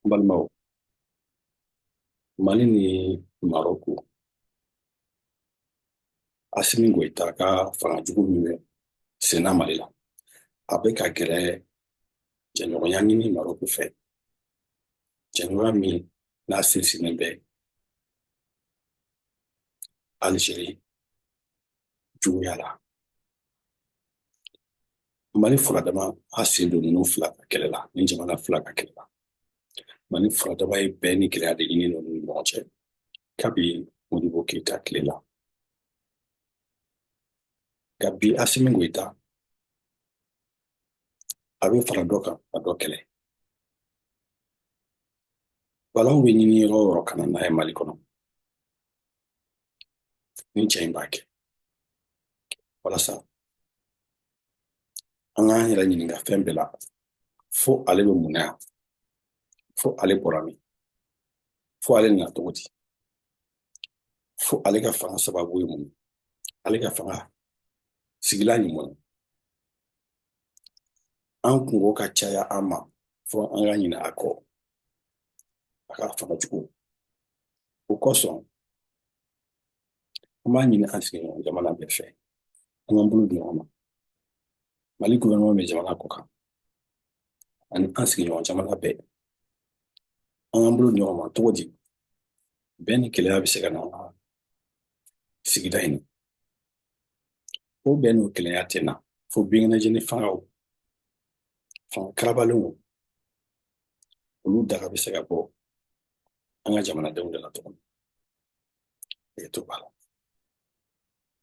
N balimaw, Mali ni Marɔku, Asimi Goyita ka fanga jugu min bɛ senna Mali la, a bɛ ka gɛrɛ jɛɲɔgɔnya ɲini Marɔku fɛ, jɛɲɔgɔnya min n'a sinsinnen bɛ Alizeri juguya la. mali furadama a sen don ninnu fila ka kɛlɛ la ni jamana fila ka kɛlɛ la mali furadama ye bɛn ni kelenya de ɲini ninnu ni ɲɔgɔn cɛ kabi modibo keyita tile la nka bi asimi goyita a bɛ fara dɔ kan a dɔ kɛlɛ balaw bɛ ɲini yɔrɔ o yɔrɔ ka na n'a ye mali kɔnɔ nin cɛ in b'a kɛ walasa an k'an yɛrɛ ɲininka fɛn bɛɛ la fo ale bɛ mun na yan fo ale bɔra min fo ale nana cogo di fo ale ka fanga sababu ye mun ale ka fanga sigilan ye mun an kunko ka caya an ma fo an ka ɲinɛ a kɔ a ka fanga jugu o kosɔn an b'a ɲini an sigiɲɔgɔn jamana bɛɛ fɛ an k'an bolo di ɲɔgɔn ma mali gouvernement bɛ jamana kɔkan ani an sigiɲɔgɔn jamana bɛɛ an k'an bolo di ɲɔgɔn ma cogo di bɛn ni kelenya bɛ se ka na an ka sigida in na o bɛn n'o kelenya tɛ na fo binkɛnɛjeni fangaw fanga karabalenw olu daga bɛ se ka bɔ an ka jamanadenw de la tuguni i to b'a la